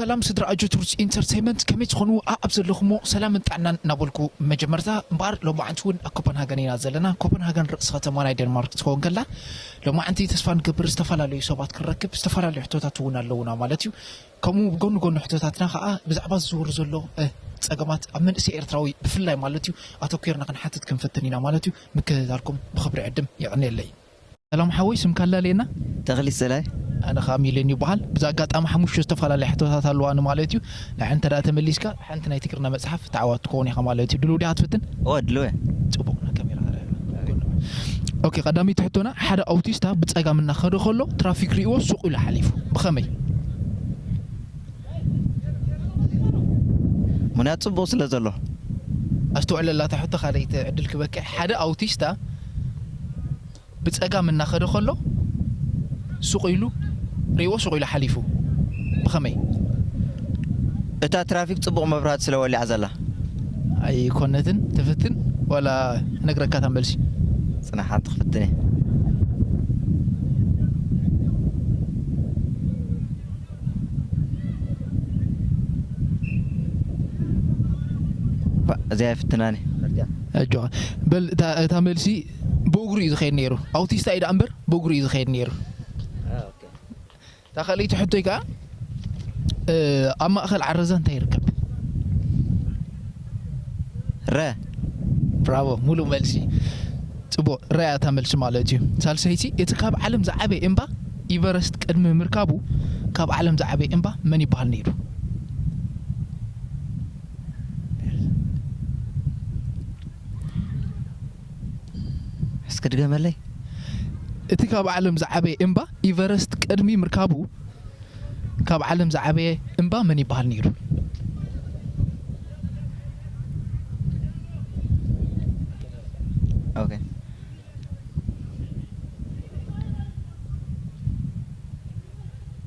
ሰላም ስድራ ኣጆት ሩፅ ኢንተርቴንመንት ከመይ ትኾኑ ኣብ ዘለኹሞ ሰላምን ጥዕናን እናበልኩ መጀመርታ እምበኣር ሎማዓንቲ እውን ኣብ ኮፐንሃገን ኢና ዘለና ኮፐንሃገን ርእሲ ከተማ ናይ ደንማርክ ትኸውን ከላ ሎማዓንቲ ተስፋ ንገብር ዝተፈላለዩ ሰባት ክንረክብ ዝተፈላለዩ ሕቶታት እውን ኣለውና ማለት እዩ ከምኡ ብጎኒ ጎኒ ሕቶታትና ከኣ ብዛዕባ እዚ ዝወርድ ዘሎ ጸገማት ኣብ መንእሰይ ኤርትራዊ ብፍላይ ማለት እዩ ኣተኲርና ክንሓትት ክንፍትን ኢና ማለት እዩ ምክትታልኩም ብኽብሪ ዕድም የዕንየለይ። ሰላም ሓወይ ስምካ ኣላልየና? ተኽሊ ሰላይ። ኣነ ከኣ ሚሊዮን ይበሃል። ብዚ ኣጋጣሚ ሓሙሽተ ዝተፈላለያ ሕቶታት ኣለዋኒ ማለት እዩ። ንዐን እንተ ተመሊስካ። ሓንቲ ናይ ትግርና መጽሓፍ ተዓዋቲ ትከውን ኢካ ማለት ዩ ድሉው ዲካ ትፍትን? እወ ድሉው እየ። ጽቡቅ ናብ ካሜራ ኣርኣያ ጎንበስ። ኦኬ ቀዳመይቲ ሕቶና ሓደ ኣውቲስታ ብጸጋም እናከደ ከሎ ትራፊክ ሪኢዎ ሱቅ ኢሉ ሓሊፉ ብከመይ? ምክንያቱ ጽቡቅ ስለ ዘሎ። ኣስተውዕለላ እታ ሕቶ ካልኣይቲ ዕድል ክበኪ ሓደ ኣውቲስታ። ብጸጋም እናኸደ ከሎ ሱቕ ኢሉ ሪእዎ ሱቕ ኢሉ ሓሊፉ። ብኸመይ? እታ ትራፊክ ጽቡቕ መብራህቲ ስለ ወሊዓ ዘላ። ኣይኮነትን ትፍትን ዋላ ክነግረካ እታ መልሲ። ጽናሕ ሓንቲ ክፍትን እየ። እዚኣ ኣይፍትናን እየ። ኣጆኻ በል እታ እታ መልሲ። ብእግሩ እዩ ዝኸይድ ነይሩ ኣውቲስታ እዩ ደኣ እምበር ብእግሩ እዩ ዝኸይድ ነይሩ እታ ካልኣይቲ ሕቶይ ከዓ ኣብ ማእኸል ዓረዛ እንታይ ይርከብ ረ ብራቮ ሙሉእ መልሲ ፅቡቅ ረ እያ እታ መልሲ ማለት እዩ ሳልሰይቲ እቲ ካብ ዓለም ዝዓበየ እምባ ኢቨረስት ቅድሚ ምርካቡ ካብ ዓለም ዝዓበየ እምባ መን ይበሃል ነይሩ እስኪ ድገመለይ። እቲ ካብ ዓለም ዝዓበየ እምባ ኢቨረስት ቅድሚ ምርካቡ ካብ ዓለም ዝዓበየ እምባ መን ይበሃል ነይሩ? ኦኬ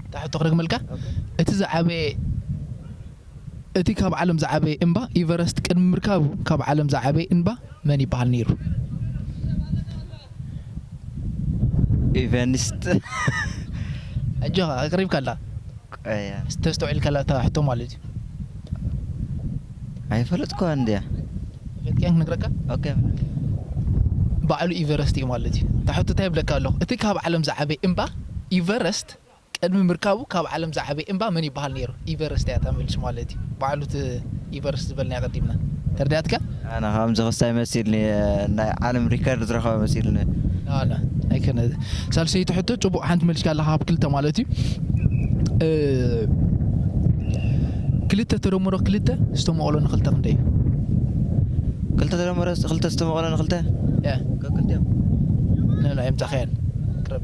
እታ ሕቶ ክደግመልካ እቲ ዝዓበየ እቲ ካብ ዓለም ዝዓበየ እንባ ኢቨረስት ቅድሚ ምርካቡ ካብ ዓለም ዝዓበየ እንባ መን ይበሃል ነይሩ? ኢቨንስት። ኣጆኻ ኣቅሪብካ ኣለኻ ቀያ። እስቲ ተስተውዒልካላ እታ ሕቶ ማለት እዩ። ኣይፈለጥኩዋን ድያ? ፈትካን ክነግረካ? ኦኬ ፍለጥ። ባዕሉ ኢቨረስት እዩ ማለት እዩ። እታ ሕቶ እንታይ ይብለካ ኣለኹ እቲ ካብ ዓለም ዝዓበየ እንባ ኢቨረስት ቅድሚ ምርካቡ ካብ ዓለም ዝዓበየ እምባ መን ይበሃል ነይሩ? ኢቨረስት እያ ተመሊሱ ማለት እዩ። ባዕሉ እቲ ኢቨረስት ዝበልናዮ ቀዲምና። ተርዲኣትካ? ኣነ ከምዚ ክስታይ መሲልኒ እየ ናይ ዓለም ሪከርድ ዝረከበ መሲልኒ። ን ን ኣይኮነ ሳልሰይቲ ሕቶ ጽቡቅ ሓንቲ መሊስካ ኣለካ ካብ ክልተ ማለት እዩ ክልተ ተደምሮ ክልተ ዝተመቀሎ ን ክልተ ክንደይ እዩ? ክልተ ተደምሮ ክልተ ዝተመቀሎ ን ክልተ? ን ን ኣይምጻካያን ቅረብ።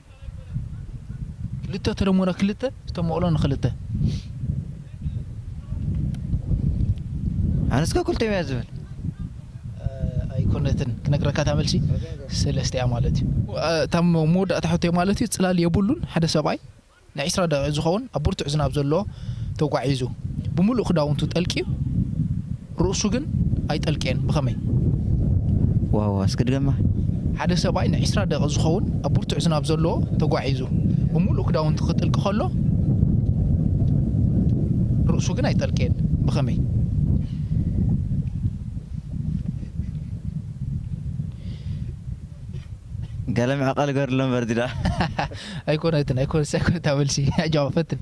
ክልተ ተደሞረ ክልተ ዝተመቕሎ ንክልተ። ኣነስከ ክልተዮም እያ ዝብል። ኣይኮነትን ክነግረካ እታ መልሲ ሰለስተ እያ ማለት እዩ። እታ መወዳእታ ሕቶይ ማለት እዩ ጽላል የብሉን ሓደ ሰብኣይ ንዒስራ ደቒቕ ዝኸውን ኣብ ብርቱዕ ዝናብ ዘለዎ ተጓዒዙ ብምሉእ ክዳውንቱ ጠልቅዩ፣ ርእሱ ግን ኣይጠልቅየን ብኸመይ? ዋው እስኪ ድገማ። ሓደ ሰብኣይ ንዒስራ ደቒቕ ዝኸውን ኣብ ብርቱዕ ዝናብ ዘለዎ ተጓዒዙ ብምሉእ ክዳውንቱ ክጥልቂ ከሎ ርእሱ ግን ኣይጠልቅየን ብኸመይ? ገለ ምዕቐል ገርሎ እምበር እዚ ድኣ። ኣይኮነትን ኣይኮነትን ኣይኮነታ መልሲ ኣጆኻ ፈትን።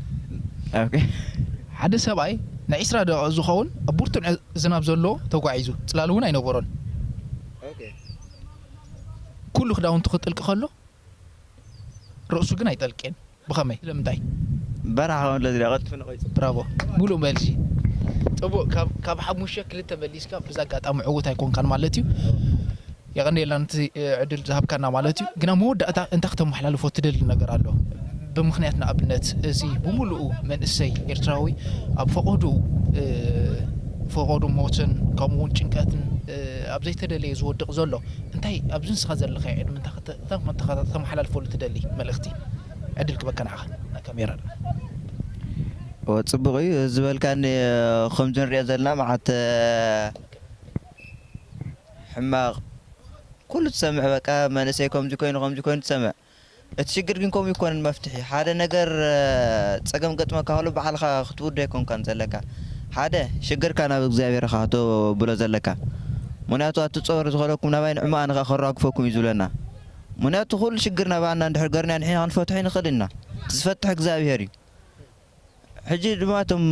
ኦኬ ሓደ ሰብኣይ ንዒስራ ደቒቕ ዚኸውን ኣብ ብርቱዕ ዝናብ ዘለዎ ተጓዒዙ፣ ጽላል እውን ኣይነበሮን። ኵሉ ክዳውንቱ ኺጥልቂ ኸሎ፣ ርእሱ ግን ኣይጠልቄን። ብኸመይ? ስለምንታይ? በረኻ ኸም ለዝዳ ቐልጢፉ ነቒጹ። ብራቮ! ምሉእ መልሲ። ጽቡቕ። ካብ ሓሙሽተ ክልተ መሊስካ፣ በዚ ኣጋጣሚ ዕዉት ኣይኰንካን ማለት እዩ። የቐንየልና ነቲ ዕድል ዝሃብካና ማለት እዩ። ግን ኣብ መወዳእታ እንታይ ክተመሓላልፎ ትደሊ ነገር ኣሎ ብምኽንያት ንኣብነት እዚ ብምሉኡ መንእሰይ ኤርትራዊ ኣብ ፈቖድኡ ፈቖዱ ሞትን ከምኡ ውን ጭንቀትን ኣብ ዘይተደለየ ዝወድቕ ዘሎ እንታይ ኣብዚ ንስኻ ዘለኻዮ ዕድመ እንታይ ክተመሓላልፈሉ ትደሊ መልእኽቲ ዕድል ክበካ ንዓኻ ናብ ካሜራ እወ ጽቡቕ እዩ ዝበልካኒ ከምዚ ንሪኦ ዘለና መዓት ሕማቅ ኩሉ ትሰምዕ በቃ መንእሰይ ከምዚ ኮይኑ ከምዚ ኮይኑ ትሰምዕ እቲ ሽግር ግን ከምኡ ኣይኮነን መፍትሒ ሓደ ነገር ጸገም ገጥመካ ከሎ ባዕልካ ክትውድኦ ኣይኮንካን ዘለካ ሓደ ሽግርካ ናብ እግዚኣብሔር ኢካ ከተብሎ ዘለካ ምክንያቱ ኣቲ ጾር ዝከለኩም ናባይ ንዕማኣ ንካ ከራግፈኩም እዩ ዝብለና ምክንያቱ ኩሉ ሽግር ናባና እንድሕር ገርናዮ ንሕና ክንፈትሖ ኣይንክእልን ኢና እቲ ዝፈትሕ እግዚኣብሔር እዩ ሕጂ ድማ እቶም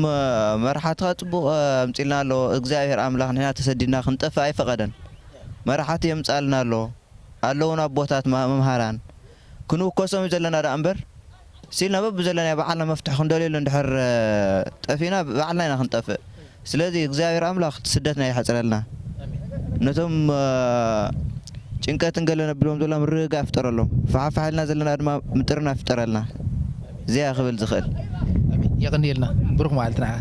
መራሓትኻ ጽቡቅ ኣምጺልና ኣሎ እግዛብሄር ኣምላኽ ንሕና ተሰዲድና ክንጠፍእ ኣይፈቀደን መራሓቲ የምጻልና ኣሎ ኣለዉና ኣቦታት መምሃራን ክንውከሶም እዩ ዘለና ደኣ እምበር ሲልና በብዘለናዮ ባዓልና መፍትሕ ክንደልየሉ እንድሕር ጠፊእና ባዕልና ኢና ክንጠፍእ ስለዚ እግዚኣብሔር ኣምላክ ስደትና የሕፅረልና ነቶም ጭንቀትን ገለ ነብሎም ዘላ ምርግጋእ ፍጠረሎም ፋሕፋሕ እልና ዘለና ድማ ምጥርናፍ ፍጠረልና እዚኣ እየ ክብል ዝክእል። የቐንየልና ብሩኽ መዓልቲ ንዓኻ።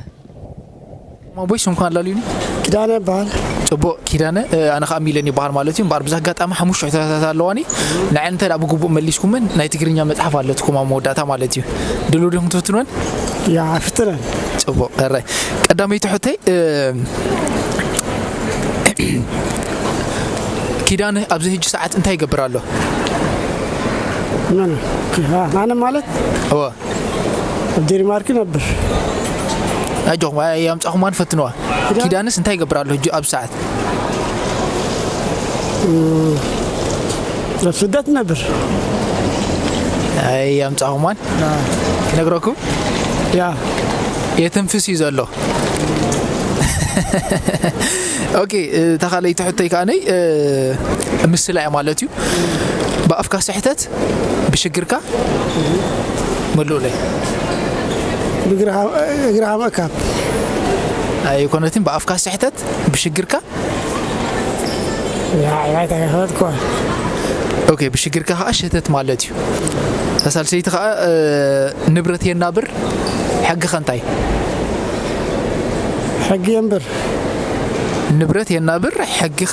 ኣቦይ ስምኩም ኣላልዩኒ። ኪዳነ ይበሃል። ጽቡቕ ኪዳነ ኣነ ከዓ ሚለን ይበሃል ማለት እዩ እምበኣር ብዛ ኣጋጣሚ ሓሙሽተ ሕቶታት ኣለዋኒ ንዐን እንተ ብግቡእ መሊስኩመን ናይ ትግርኛ መፅሓፍ ኣለትኩም ኣብ መወዳእታ ማለት እዩ ድልው ዲኹም ትፍትንወን ያ ፍትነን ጽቡቕ ሕራይ ቀዳመይቲ ሕቶይ ኪዳነ ኣብዚ ህጂ ሰዓት እንታይ ይገብር ኣሎ መን ኣነ ማለት እወ ኣብ ዴንማርክ ነብር ኣጆኹም ኣይ- ኣምጻኹማ ንፈትንዋ ኪዳንስ እንታይ ይገብር ኣሎ ህጂ ኣብዚ ሰዓት ኣብ ስደት ነብር ኣይ ኣምጻኹምዋን ክነግረኩም ያ የትንፍስ እዩ ዘሎ ኦኬ ተኻለይቲ ሕቶይ ከዓነይ ምስላ እያ ማለት እዩ ብኣፍካ ስሕተት ብሽግርካ ኣይኮነትን ብኣፍካ ስሕተት ብሽግርካ ኦኬ ብሽግርካ ከዓ ሸተት ማለት እዩ እታ ሳልሰይቲ ከዓ እ፣ ንብረት የናብር ሕጊ ከንታይ ሕጊ የንብር ንብረት የናብር ሕጊኸ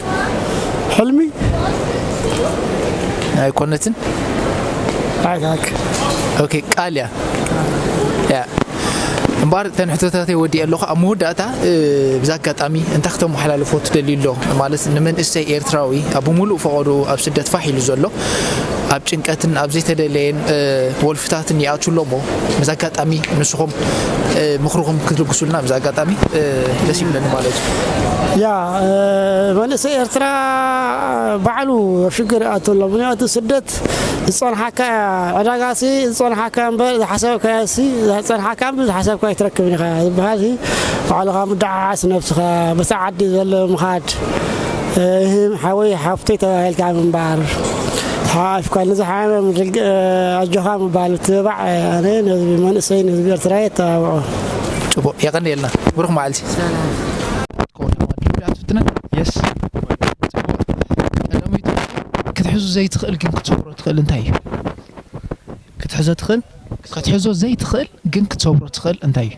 ሕልሚ ኣይኮነትን ኣይካክ ኦኬ ቃል እያ ያ እምበኣር እተን ሕቶታተይ ወዲእ ኣለኹ ኣብ መወዳእታ እ፣ ብዛ ኣጋጣሚ እንታይ ክተመሓላልፎ ትደልዩ ኣሎ ማለት ንመንእሰይ ኤርትራዊ ኣብ ብምሉእ ፈቐዱ ኣብ ስደት ፋሕ ኢሉ ዘሎ ኣብ ጭንቀትን ኣብ ዘይተደለየን ወልፍታትን ይኣትው ኣሎ እሞ በዚ ኣጋጣሚ ንስኹም ምኽርኹም ክትልግሱልና በዚ ኣጋጣሚ ደስ ይብለኒ ማለት እዩ ያ መንእሰይ ኤርትራ ባዕሉ ኣብ ሽግር ይኣቱ ኣሎ ምክንያቱ ስደት ዝፀንሓካ ዕዳጋሲ ዝፀንሓካ እምበር ዝሓሰብካዮሲ ዝፀንሓካ እምበር ዝሓሰብካ ኣይትረክብን ኢኻ ዝበሃል ባዕልኻ ምድዓዓስ ነብስኻ በቲ ዓዲ ዘሎ ምኻድ እህም ሓወይ ሓፍተይ ተባሂልካ ምንባር ሓሓፍካኒ ዝሓመም ድግ ኣጆኻ ምባል ምትብባዕ ኣነ ንህዝቢ መንእሰይ ንህዝቢ ኤርትራ የተባብዖ ጽቡቅ የቀንየልና ብሩክ መዓልቲ የስ ቀዳመይቲ ክትሕዙ ዘይትኽእል ግን ክትሰብሮ ትኽእል እንታይ እዩ ክትሕዞ ትኽእል ክትሕዞ ዘይትኽእል ግን ክትሰብሮ ትኽእል እንታይ እዩ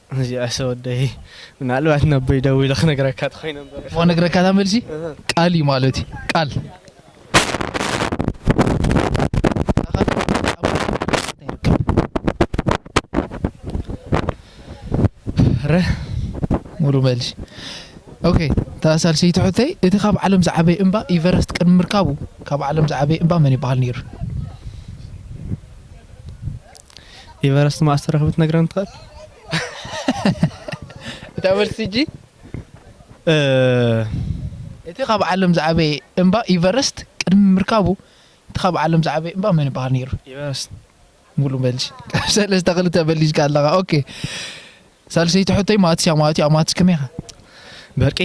እዚኣሰ ወደይ ምናልባት ነቦይ ደዊለ ክነግረካ ተኮይነ እምበር እሞ ነግረካ እታ መልሲ ቃል እዩ ማለት እዩ ቃል ረ ሙሉ መልሲ ኦኬ እታ ሳልሰይቲ ሕቶይ እቲ ካብ ዓለም ዝዓበየ እምባ ኢቨረስት ቅድሚ ምርካቡ ካብ ዓለም ዝዓበየ እምባ መን ይበሃል ነይሩ ኢቨረስት መኣስ ተረኽቢ ትነግረኒ ትኽእል እታ መልሲ እጂ እቲ ካብ ዓለም ዝዓበየ እምባ ኢቨረስት ቅድሚ ምርካቡ እቲ ካብ ዓለም ዝዓበየ እምባ መን ይበሃል ነይሩ? ኢቨረስት ሙሉ መልሲ ካብ ሰለስተ ክልተ መሊስካ ኣለኻ ኦኬ ሳልሰይቲ ሕቶይ ማትስ እያ ማለት እዩ ኣብ ማትስ ከመይ ኢኻ በርቂ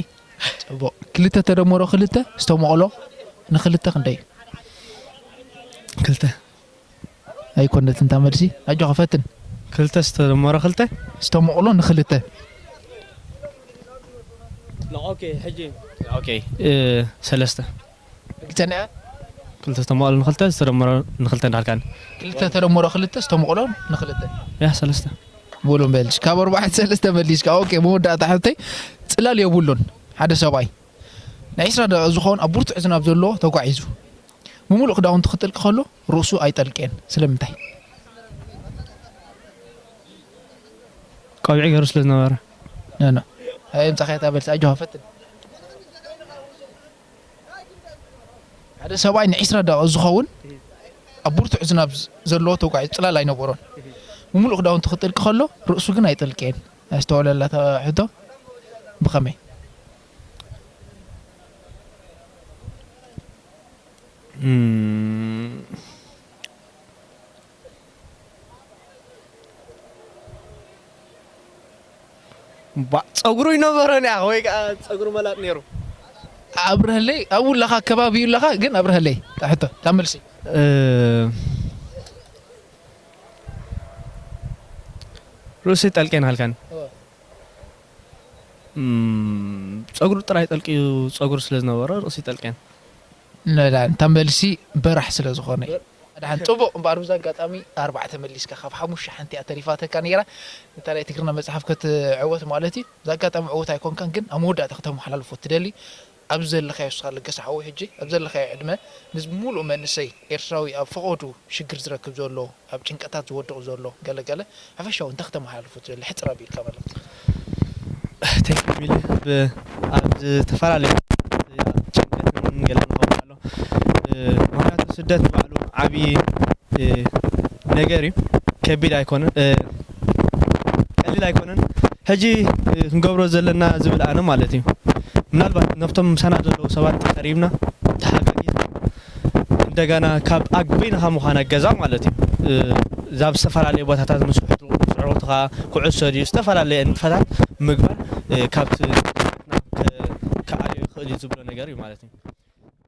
ጽቡቕ ክልተ ተደመሮ ክልተ ዝተመቕሎ ንክልተ ክንደይ እዩ ክልተ ኣይኮነትን እታ መልሲ ኣጆኻ ፈትን። ክልተ ዝተደመሮ ክልተ። ዝተሞቕሎ ንክልተ። ንኦኬ ሕጂ ንኦኬ ሰለስተ። ርግጸኛ እያ? ክልተ ዝተሞቕሎ ንክልተ ዝተደመሮ ንክልተ እንዳልካኒ። ክልተ ተደመሮ ክልተ ዝተሞቕሎ ንክልተ። ያህ ሰለስተ። በሉ በል ካብ ኣርባዕተ ሰለስተ መሊስካ። ኦኬ መወዳእታ ሕቶይ ጽላል የብሉን ሓደ ሰብኣይ ንዒስራ ደቒቕ ዝኸውን ኣብ ብርቱዕ ዝናብ ዘለዎ ተጓዒዙ። ብምሉእ ክዳውንቱ ክጥልቂ ከሎ ርእሱ ኣይጠልቄን ስለምንታይ? ቆቢዕ ገሩ ስለ ዝነበረ። ኖኖ ኣይ ኣምጻኻያ እታ መልሲ ኣጆኻ ፈትን። ሓደ ሰብኣይ ንዒስራ ደቒቕ ዝኸውን ኣብ ብርቱዕ ዝናብ ዘለዎ ተጓዒዙ ጽላል ኣይነበሮን። ብምሉእ ክዳውንቱ ክጥልቂ ከሎ ርእሱ ግን ኣይጠልቄን። ኣስተውዕለላ እታ ሕቶ ብኸመይ? ፀጉሩ ይነበሮን ያ ወይ ከዓ ፀጉሩ መላጥ ነይሩ ኣብረሀለይ ኣብኡ ኣለኻ ከባቢ እዩ ኣለኻ ግን ኣብረሀለይ ሕቶ ካብ መልሲ ርእሲ ጠልቄን ሃልካን ጸጉሩ ጥራይ ጠልቅዩ ጸጉሪ ስለ ዝነበሮ ርእሲ ጠልቅየን። ንላን እታ መልሲ በራሕ ስለ ዝኾነ እዩ። ኣድሓን ጽቡቕ እምበኣር ብዚ ኣጋጣሚ ኣርባዕተ መሊስካ ካብ ሓሙሽተ ሓንቲ እያ ተሪፋትካ ኔራ ነታ ናይ ትግርና መጽሓፍ ክትዕወት ማለት እዩ ብዚ ኣጋጣሚ ዕዉት ኣይኮንካን ግን ኣብ መወዳእታ ክተመሓላልፎ እትደሊ ኣብዚ ዘለኻዮ እስኻ ለገሰ ሓወይ ሕጂ ኣብ ዘለኻዮ ዕድመ ምስ ሙሉእ መንእሰይ ኤርትራዊ ኣብ ፈቖዱ ሽግር ዝረክብ ዘሎ ኣብ ጭንቀታት ዝወድቕ ዘሎ ገለ ገለ ሓፈሻዊ እንታይ ክተመሓላልፎ ትደሊ ሕጽር ኣቢልካ መልእኽቲ። Thank you ሚሊ ኣብ ዝተፈላለዩ ጭንቀትን ገለን ንኸውዕሎ ምክንያቱ ስደት ንባዕሉ ዓብዪ ነገር እዩ ከቢድ ኣይኮነን ቀሊል ኣይኮነን ሕጂ ክንገብሮ ዘለና ዝብል ኣነ ማለት እዩ ምናልባት ነብቶም ምሳና ዘለዉ ሰባት ቀሪብና ተሓጋጊዝና እንደገና ካብ ኣግበይና ካብ ምዃና ገዛ ማለት እዩ ዛብ ዝተፈላለዩ ቦታታት ምስ ውሕትካ ኩዕሶ ድዩ ዝተፈላለየ ንጥፈታት ምግባር ካብቲ ክኣልዮ ይኽእል እዩ ዝብሎ ነገር እዩ ማለት እዩ